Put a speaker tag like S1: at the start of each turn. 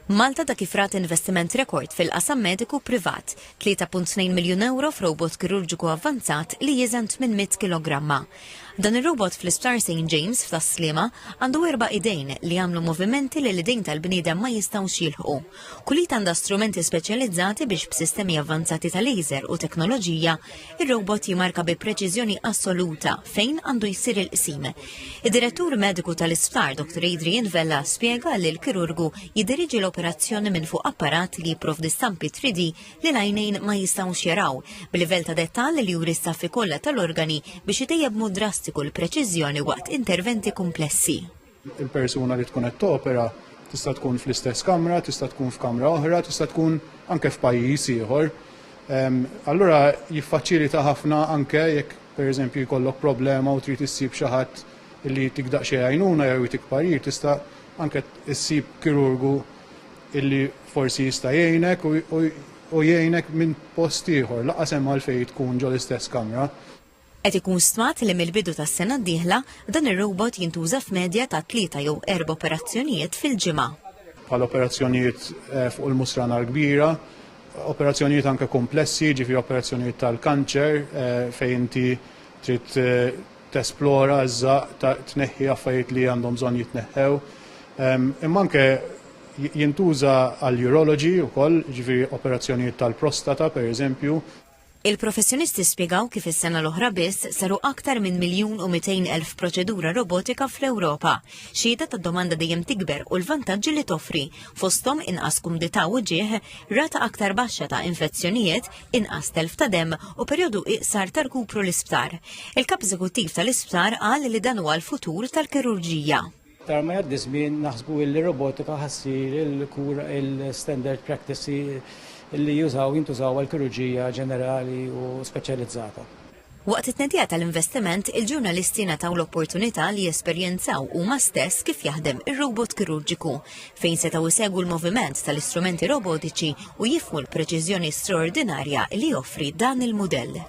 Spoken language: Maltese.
S1: Malta ta' kif rat investiment rekord fil-qasam mediku privat, 3.2 miljun ewro f'robot kirurġiku avvanzat li jiżen 800 kilogramma. Dan ir-robot fl-Isptar St James f'Tas-Sliema għandu erba' idejn li jagħmlu movimenti li l-idejn tal-bniedem ma jistgħux jilħqu. Kull id għandha strumenti speċjalizzati biex b'sistemi avvanzati ta' laser u teknoloġija ir-robot jimarka bi preċiżjoni assoluta fejn għandu jsir il-qsim. Id-direttur mediku tal-isptar Dr. Adrian Vella spjega li l-kirurgu jidiriġi l-operazzjoni minn fuq apparat li jipprovdi stampi 3D li l-għajnejn ma jistgħux jaraw b'livell ta' dettall li juri staffi kollha tal-organi biex itejjeb mod drastiku l-preċiżjoni waqt interventi komplessi. Il-persuna
S2: li tkun qed topera tista' tkun fl-istess kamra, tista' tkun f'kamra oħra, tista' tkun anke f'pajjiż ieħor. Ehm, allura jiffaċilita ħafna anke jekk pereżempju jkollok problema u trid issib xi ħadd li jtik daqsxejn għajnuna jew jtik parir tista' anke issib kirurgu illi forsi jista' jgħinek u jgħinek minn post ieħor laqas hemm għalfejn tkun ġol-istess kamra. Qed ikun
S1: stmat li mill-bidu tas-sena d-dieħla, dan ir-robot jintuża f'medja ta' tlieta jew erba' operazzjonijiet fil-ġimgħa. bħal
S2: operazzjonijiet fuq il-musrana l-kbira, operazzjonijiet anke kumplessi, jiġifieri operazzjonijiet tal-kanċer fejn inti trid tesplora, żżaqq, tneħħi affarijiet li għandhom bżonn jitneħħew. Imma anke jintuża għall-urology wkoll, jiġifieri operazzjonijiet tal-prostata, pereżempju. Il-professjonisti
S1: spjegaw kif is-sena l-oħra biss saru aktar minn miljun u mitejn elf proċedura robotika fl-Ewropa, xhieda tad-domanda dejjem tikber u l-vantaġġi li toffri, fosthom inqas kumdità u ġieħ, rata aktar baxxa ta' infezzjonijiet, inqas telf ta' demm u perjodu iqsar ta' rkupru l-isptar. Il-Kap Eżekuttiv tal-Isptar qal li dan huwa l-futur tal-kirurġija. Aktar ma jgħaddi
S3: żmien naħsbu illi robotika ħa ssir il-kura il-standard practice li jużaw jintużaw għall-kirurġija ġenerali u speċjalizzata. Waqt it-tnedija
S1: tal-investiment, il-ġurnalisti ngħataw l-opportunità li jesperjenzaw huma stess kif jaħdem ir-robot kirurġiku, fejn setgħu jsegwu l-moviment tal-istrumenti robotiċi u jifhmu l-preċiżjoni straordinarja li joffri dan il-mudell.